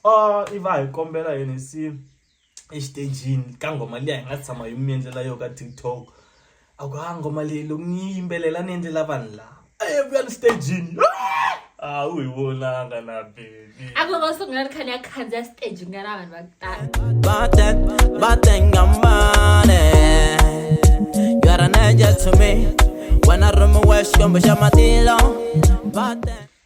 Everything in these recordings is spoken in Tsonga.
oh i va hi kombela hi ni si exitejini ka nghoma liya hi nga tshama hi mi endlela yo ka tiktok a ku ha nghoma leyi loko ni yi yimbelela ni endlela vanhu laha a ye vuya ni xitejini a wu hi vonanga na bebi a ku va sungula ri khani ya khandziya stage nga na vanhu va ku tala batengambane yaraneje to me wena rhumiwe xikwembu xa matilo bate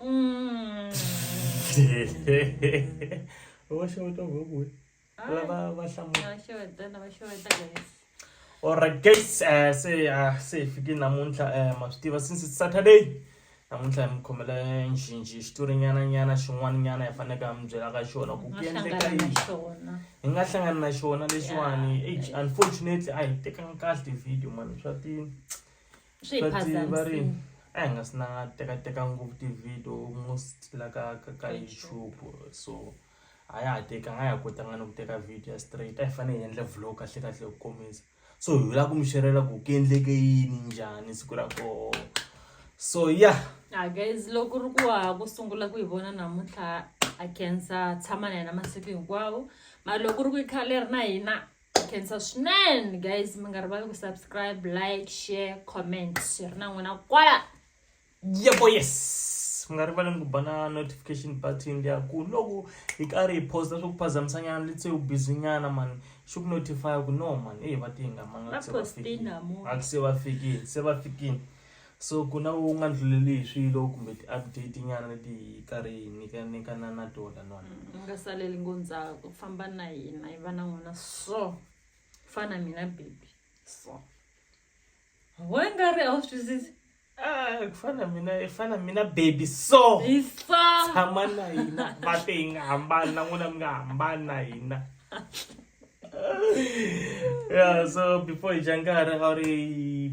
Mm. va xeweta ngopfu lava va hlamulaoright guys eh, se ah, se hi fike namuntlha eh, ma swi tiva since it's saturday namuntlha hi mi khomela njhinji xitori nyana nyana xin'wana nyana hi faneleke ha mi byela ka xona ku ku endleka yini hi nga hlangani na xona lexiwani unfortunately a hi tekanga kahle video mani swa ti swi hi phazamisile a hi nga si na tekateka ngopfu ti-video most la ka ka ka youtube so a ya ha tekanga a ya kotanga ni ku teka video ya straight a hi fanele hi endla vlog kahle kahle ku kombisa so hi lava ku mi xerela ku ku endleke yini njhani siku ra koho so ya yeah. Ah, guys loko ri ku wa ku sungula ku yi vona namuntlha a khensa tshama na yena masiku hinkwawo mara loko ri ku yi khale ri na hina khensa swinene guys mi nga rivali ku subscribe like share comment hi ri na n'wina kwala yebo yes mi nga rivaleni ku ba na notification button liya ku loko hi karhi hi posta swo ku phazamisanyana letse u busy nyana mani xi ku notify ku no mani eyi va tihingamanga se va fikile se va fikile So ku na u nga ndluleli hi swilo kumbe ti-update nyana leti hi karhi hi nyika nyikana na tona no u nga saleli ngo ndzhaku famba na hina hi va na n'wina so fana mina baby so we nga ri a wu swi twisisi Ah, ku fana na mina i fana na mina baby so hi so tshama na hina va te hi nga hambani na n'wina mi nga hambani na hina yeah so before hi dya nkarhi a wu ri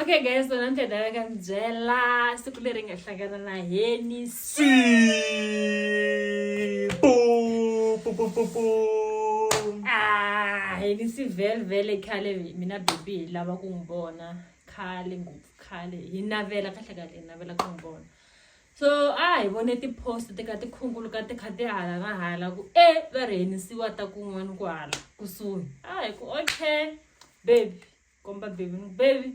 okay guys so namuntlha dala ka ndzi byela siku leri nga hlangana na heni si ah heni si velvele khale mina bebi hi lava ku n'wi vona khale ngopfu khale hi navela kahle kahle hi navela ku n'wi vona So a hi vone ti post ti ka ti khunguluka ti kha ti hala na hala ku e va rhenisiwa ta kun'wana ku hala kusuhi a hi ku okay baby komba baby ni baby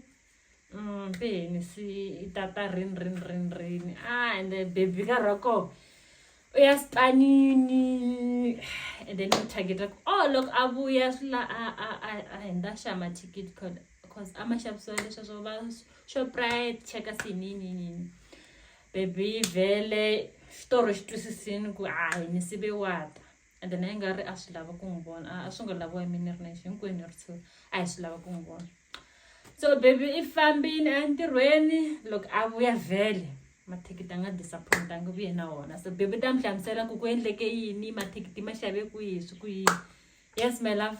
mm ti rhenisi i tata rin rin rin rin a ende baby ka rhoko uyastanini and then u targeta ku oh loko a vuya swi la a a a a hindza xa ma ticket code cause a ma xavisiwa leswa swo va shoprite cheka sininini baby vele xitoro xi twisisini ku hayi ni sive wata and then a yi nga ri a swi lava ku n'wi vona a swi nga laviwa hi mina ri nexi hinkwenu ri tshuri a hi swi lava ku n'wi vona so baby i fambini a ntirhweni loko a vuya vhele mathikithi a nga disappoint a nge vuye na wona so baby ta mi hlamusela ku ku endleke yini mathikithi ma xave ku yihi swi ku yini yes my love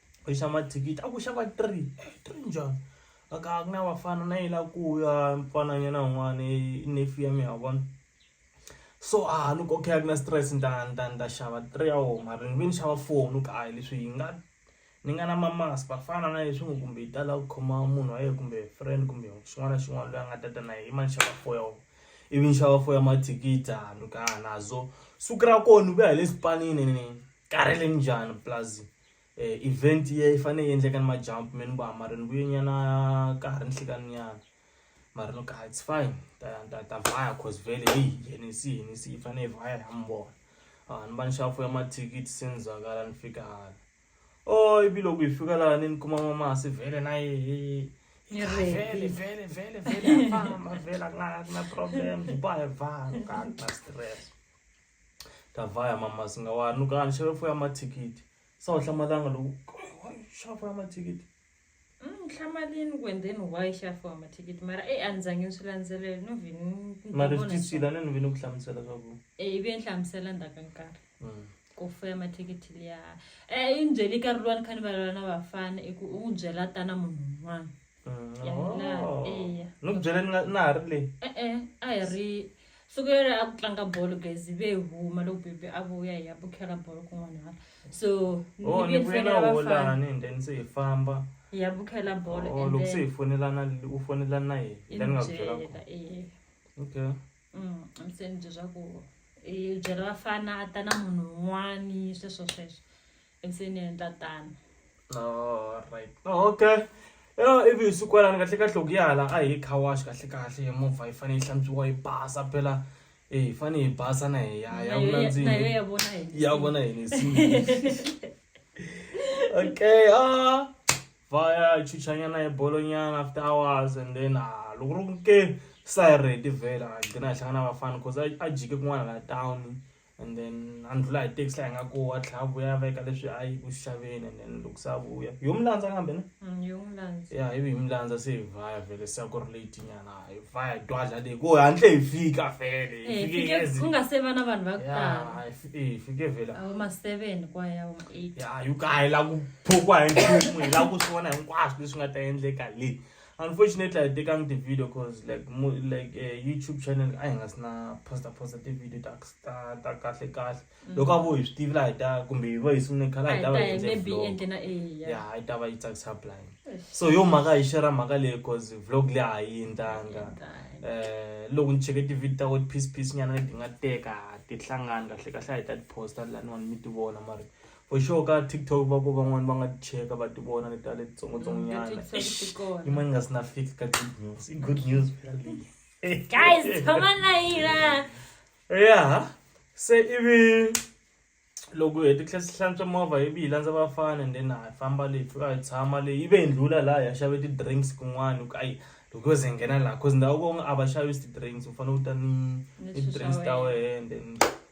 u xava mathikithi a ku xava three three njhani a ka a ku na vafana na yi la ku ya mfananyana un'wana i nefi ya mi ha vona so a ah, loko okay a ku na stress ni ta ni ta ni ta xava three ya wo mara ni ve ni xava four ni ku ayi leswi hi nga ni nga na mamasi vafana na leswi n'wi kumbe yi tala ku khoma munhu wa yena kumbe friend kumbe xin'wana na xin'wana loyi a nga ta ta na yena i ma ni xava four ya wo ivi ni xava four ya mathikithi a ni ku a ah, nazo siku ra kona ni vuya hi le xipanini ni karhele njhani plazini eh, event yi yi fanele yi endleka ni majump me ni ku a mara ni vuye nyana ka ha ri ni nhlikani nyana mara ni ku a it's fine ta ta ta vaya cause vele heyi henisi henisi yi fanele yi vaya ya mi vona a ah, ni va ni xafo ya mathikithi se ni zakala ni fika hala o oh, ivi loko hi fika laha ni ni kuma mamasi vele na yehe vele vele vele vele a famba vele a ku na problem hi ba hi vana ka na stress Ndavaya mama singawaya ni ku a ni xave foni ya mathikithi se a wu hlamalanga loko kumbe why u xava foni ya mathikithi Mm, hlamalini ku and then why i xava foni ya mathikithi mara e a ni zange ni swi landzelele no vhe ni- ni mara vona swi leswi- tisile a ni ni ve ni ku hlamusela swa ku Eh, ivi ni hlamusela ndzhaku ka nkarhi Mm. ku fuya mathikithi liya um i ni byele nkarhi luwa ni kha ni valala na vafana i ku u n'wi byela tana munhu un'wana no ku byeleni na ha ri le e-e a hi ri siku yere a ku tlanga bolo gezi ve huma loko bebe a vuya hi ya bukhela bolo kun'wanana so oh, ni vuye na holani and then se hi famba hi ya bukhela bolo oh, loko se hi fonelana u fonela na yena la ni nga ku byela okay mm, ni se ni bye swa ku hi byela vafana a ta na munhu un'wani sweswo sweswo endzeni ya endla tano alright oh, okay ya ivi hi siku yalani kahle kahle ku yala a hi car wash kahle kahle movha yi fanele yi hlantswiwa yi basa phela e hi fanele hi basa na hi ya ya vunandzini ya vona yini okay ah va ya chuchanyana hi bolonyana after hours and then ah loko ri ku ke sa hi ready vhela a gcina hi hlangana vafana cause a jike kun'wana la town and then a ni ndlhula hi taxi laha hi nga koho a tlhela a vuya a veka leswi a yi ku xaveni and then loko se a vuya yo mi landza kambe na mm, ya ivi hi mi landza se hi vaya vhele se a ku ri late nyana hi vaya dwadla leyi ku hantle hi fika vhele hi eh, fike ku nga se va na vanhu va ku tala hi fike vhele awu ma seven kwa ya ma eight ya yi ka hi la ku phukwa hi nchumu hi la ku swi vona hinkwaswo leswi nga ta endleka leyi unfortunately i tekangi ti-video cause like like uh, youtube channel a hi nga si na posta posta ti-video ta ta ta kahle kahle mm. loko a vo hi swi tivi laha hi ta kumbe hi va hi sungule khale a hi ta va ya a yi ta va yi tsakisa blind so yo mhaka hi xera mhaka leyi cause vlog leyi a yi endlanga eh, um loko ni cheke ti-video ta wet piece piece nyana leti nga teka ti hlangani kahle kahle a hi ta ti-posta laniwani mi ti vona mari For sure ka TikTok va ku van'wani va nga ti cheka va ti vona leta le titsongotsongonyana. Leti ti Eish, ti kona. yin'wana yi nga si na fix ka good news. I good news phela leyi. Guys, tshama na hina. Yeah. Se ivi loko hi hete tlhela hlantswa movha ivi hi landza vafana and then ha famba leyi fika hi tshama leyi ivi hi ndlhula laha ha xave ti-drinks kun'wana hi ku ayi loko yo ze hi nghena laha cause ndhawu kongo a va xavisi ti-drinks u fanele u ta ni Ni ni swilo ti-drinks swa ta wena. wena and then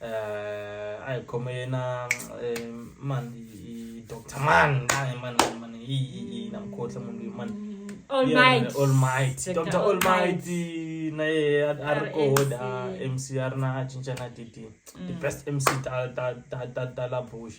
eh ayi khoma yena eh, man i doctor man hayi man man man i i namkhohle munhu man all might all might Dr. doctor all might na ye a ri koda MC a ri na a cinca na titi the best MC ta ta ta ta ta la bush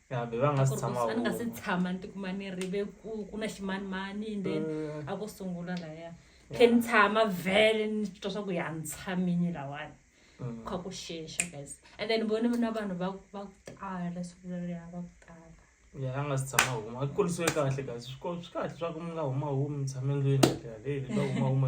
ya be va nga si tshama a ni nga si tshama ni tikuma ni ri ve ku ku na ximanimani and then mm. a ko sungula laya khe ni tshama vhele ni twa swa ku ya ni tshamini lawani mm. kha ku xexa guys and then voni na vanhu va va ku tala siku leriya va ku tala ya a nga si tshama huma a kurisiwe kahle kasi swi kahle swa ku mi nga huma humi mi tshame ndlwini kahle yaleyo va huma huma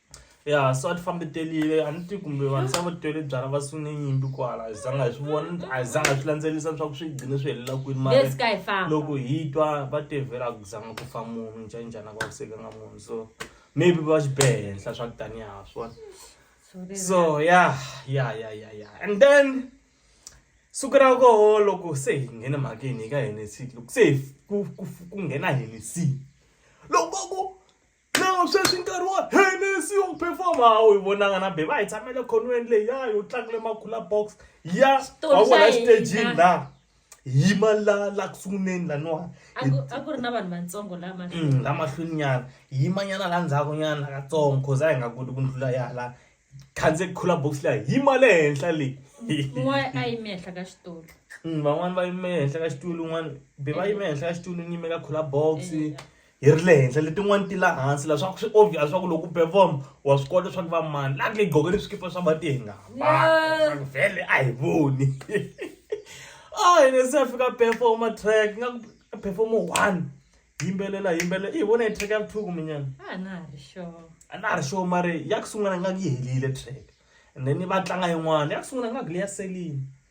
ya so a ti fambi telile a ni ti kumbe vanhu se va tele byala va sune nyimpi kwala hi zanga hi swi vona a hi zanga hi swi landzelelisa leswaku swi gcine swi helela kwini mara Let's go hi famba. loko hi twa va tevhela a ku zanga ku fa munhu njhanjhani a ku vavisekanga munhu so maybe va xi behe henhla swa ku tanihi ha swona so ya ya ya ya ya and then siku ra koho loko se hi nghene mhakeni hi ka henesi loko se hi ku ku- ku nghena henesi loko ku Now sweswi nkarhi wa Hennessy yo performa a wu yi vonanga na bebe a hi tshamele khonweni leyi ya yo tlangile makhula box ya Xitori wa xa vona hina. xitejini la yima la la ku sunguleni laniwani a ku- a ku ri na vanhu vantsongo la mahlweni Mm, la mahlweni nyana yima nyana la ndzhaku nyana katsongo cause a hi nga koti ku ndlula yala khandze khula box leya yima le henhla leyi un'wana a yime henhla ka xitulu Mm, van'wani va yime henhla ka xitulu un'wana be va yime henhla ka xitulu ni yime ka khula box Eh, hi ri le henhla letin'wani ti la hansi la swaku swi obvious swaku loko u perform wa swi kota swaku va mani la nge gqoke ni swikipa swa mati hi nga hambani vhele a hi voni a hi ne se a fika performa track nga perform one yimbelela yimbelela i vona hi track ya ku thuku minyana a na ha ri sure a na ha ri sure mara ya ku sungula nga yi helile track and then va tlanga yin'wana ya ku sungula nga ku leya selini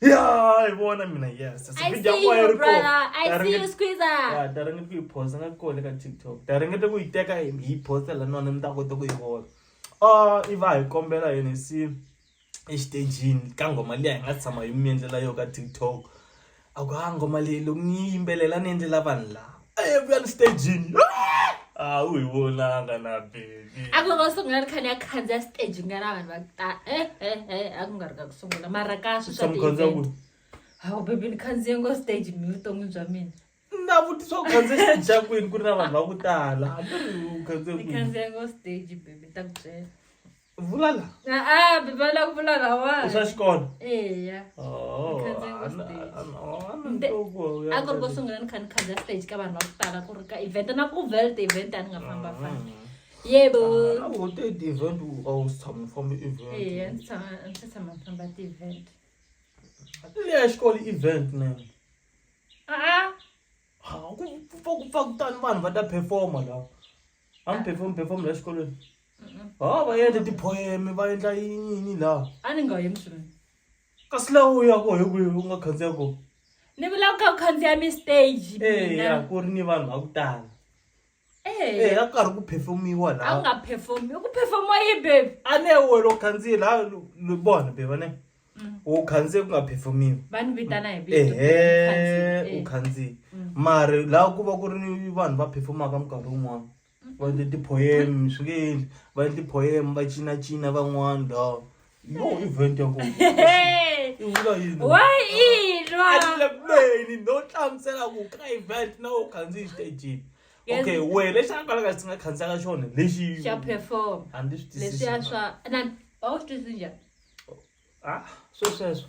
ya hi vona mina yes I video see ya you, ri brother. kona. I Ta see ringeta- you, Squeezer. Ya, ta ringeta ku yi posta nga kole ka tiktok ta ringeta ku yi teka hi hi yi posta la nona mi ta kota ku yi vona a i va hi kombela yini si exitejini ka ngoma liya hi nga tshama hi mi endlela yo ka tiktok a ku ha ngoma leyi loko ni yi yimbelela ni endlela vanhu lava ebuya listejini hawu hi vonanga na bebi a ku loko sungula ni kha ni ya khandziya stage nga na vanhu va ku ta e e e a ku nga ri ka ku sungula mara ka swi swa samukhandza ku ti-event. hawu bebi ni khandziye ngo stage mi vuton'wini bya mina na vutisa ku khandze stage xa kwini ku ri na vanhu va ku tala a ni ri u khandze ni kwini khandziye ngo stage bebi ni ta ku byela vula la a bebe a la ku vula la wa i swa xikolo eya oh, a ku ri ko sungula ni kha ni khandziya stage ka vanhu va ku tala ku ri ka event na ku velt event a ni nga famba mm. famba yebo wote ah, ti-event a wu si tshama famba event eya ndzi tshama ndzi tshama famba ti-event leya xikolo event ne a-a ha ku pfa ku pfa kutani vanhu va ta performa lawa a mi perform perform la xikolweni ha va endla tiphoyeme va endla yini laha a ni nga yi mswini kasi laha u ya ko hi kwihi u nga khandziya ko ni vulaka ku khandziya mi stage eya ku ri ni vanhu va ku tala Eh, eya ku karhi ku phefemiwa a laha nga performi ku performiwa yi baby a ne wena u khandziye laha lu- lu- bona beva ne u khandziye ku nga phefemiwi va ni vitana hi vito ehe u Eh. khandziye mari laha ku va ku ri ni vanhu va phefomaka minkarhi wun'wana va endle tipoyeme swi nge endli va endle poyeme va cinacina van'wana laha No event ya kona. Hey! I vula yini? Wa inwa. Alibeni no hlamusela ku ka event na u khandziyi stage. Yes. Okay, we lexi a kwala ka xi nga khandziya ka xona lexi Xa perform. a ndzi swi twisisi. Leswiya swa na a wu swi twisisi njhani? Ah, swesweswo.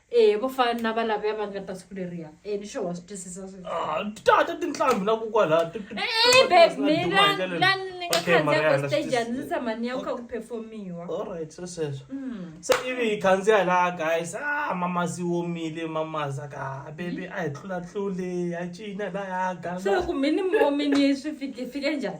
ehe vo fana na valavuya va nga ta siku leriya e ni sure wa swi twisisa switata ah, tinhlambi na kokwalaha bebmilani ni nga khandziyaka stage a ndzi tshama ni ya ku kha ku performiwa allright swo sweswo hmm. se ivi hi khandziya laha guys a ah, mamazi womile mamaza ka ah, bebi a hi tlulatlule ya cina laya gasa ku mini momini swi fike njhani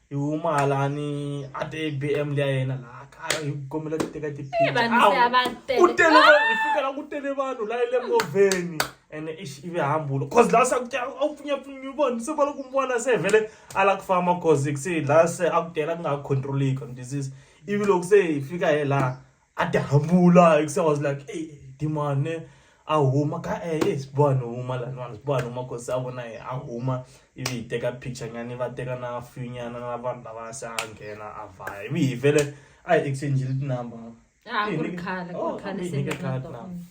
hi huma hala ni a ti abm leya yena laha kaya hi kombela ku teka tiphini ku tele hi fika la ku tele vanhu la le movheni and ish ive hambulo cause la sakuti a wu pfunyapfunyi vona se va loko mi vona se vhele a la ku famba cause se la se a ku tela ku nga ha controleki disease ivi loko se hi fika hi laha a ti hambula hikusa was like ey dimane a huma ka e eh, siboha ni huma laniwani siboha ni huma kosi a vona ye a huma ivi hi teka picture nyani va teka na few nyana na vanhu lava se a nghena a vhaya ivi hi vele a hi exchange-ile tinumber ah, oh,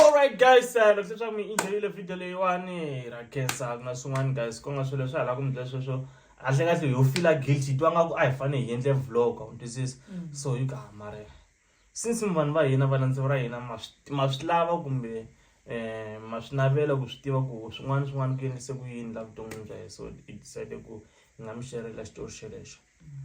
alright guys uh, loko leswaku mi enjoyile video leyiwani ra khensa ku na swin'wana guys ku nga swilo leswi hala ku mi byela sweswo handle kahle yo fila guilty twa nga ku a hi fanele hi endle vlog a wu twisisi mm. so yi ka mare since mi vanhu va hina valandzi ra hina ma swi lava kumbe um ma swi navela ku swi tiva ku swin'wana swin'wana ku endlise ku yini la vuton'wini bya hi so hi decide ku hi nga mi xerela xitori xelexo mm.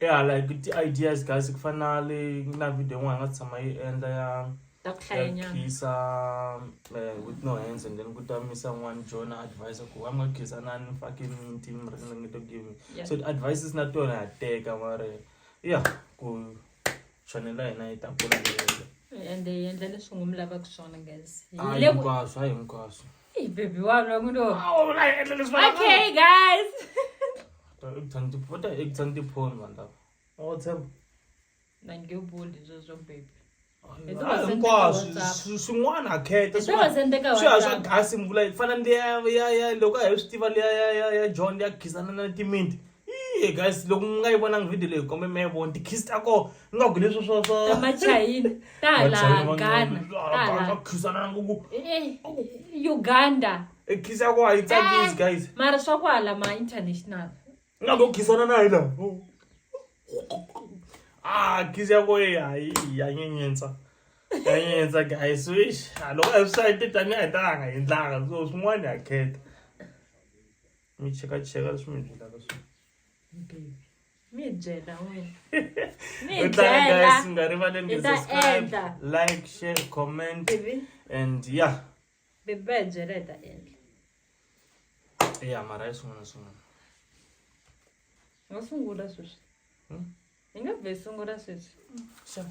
ya like ti-ideas guys ku fana na le na video yin'wana nga tshama yi endla ya ta ku hlayanyana khisa eh, with no hands and then ku ta misa n'wana jona advice ku wa nga khisa na ni fucking minti mi ri ni to give me Yeah. so advices na tona ha teka mara ya ku chanele ya hina yi ta kula leyelo ende yi endla leswi n'wi mi lavaka swona guys a Hi le ku- hinkwaswo a hinkwaswo Hey, baby wa lwa ku lo okay guys ekutshani tipho ta ekutshani tiphoni vanhu lava awa tshemba na nge boli zo zo baby Hi to va sendela hinkwaswo WhatsApp. swi- swin'wana ha kheta hi to va sendeka swi ya swa WhatsApp. gasi mvula yi fana ndi ya ya ya loko a hi swi tiva liya ya ya ya john ya khisana na timinti Hey guys loko mi nga yi vonangi video leyi kombe mi ya vona ti-kiss ta kona ni nga ku leswi swa swa ta machayina ta hala ghana ta hala khisana ku Eh, uganda e kiss ya kona a yi tsakisi guys Eh, mara swa ku hala ma international ni nga ku khisana na hi laha ah kiss ya kona ya ya nyenyentsa ya nyenyentsa guys wish loko a swi sayiti tanihi a hi talanga hi ndlanga so swin'wana ha khetha mi chekacheka leswi mi byelaka swona mi byela wena mi Yo tlanga byela guys mi nga rivaleni Hi ku ta subscribe endla. like share comment bibi and yeah bibi va hi byela hi ta endla yeah mara yi swin'wana na swin'wana hi nga sungula sweswi Hmm? hi nga vhe sungula sweswi Sure.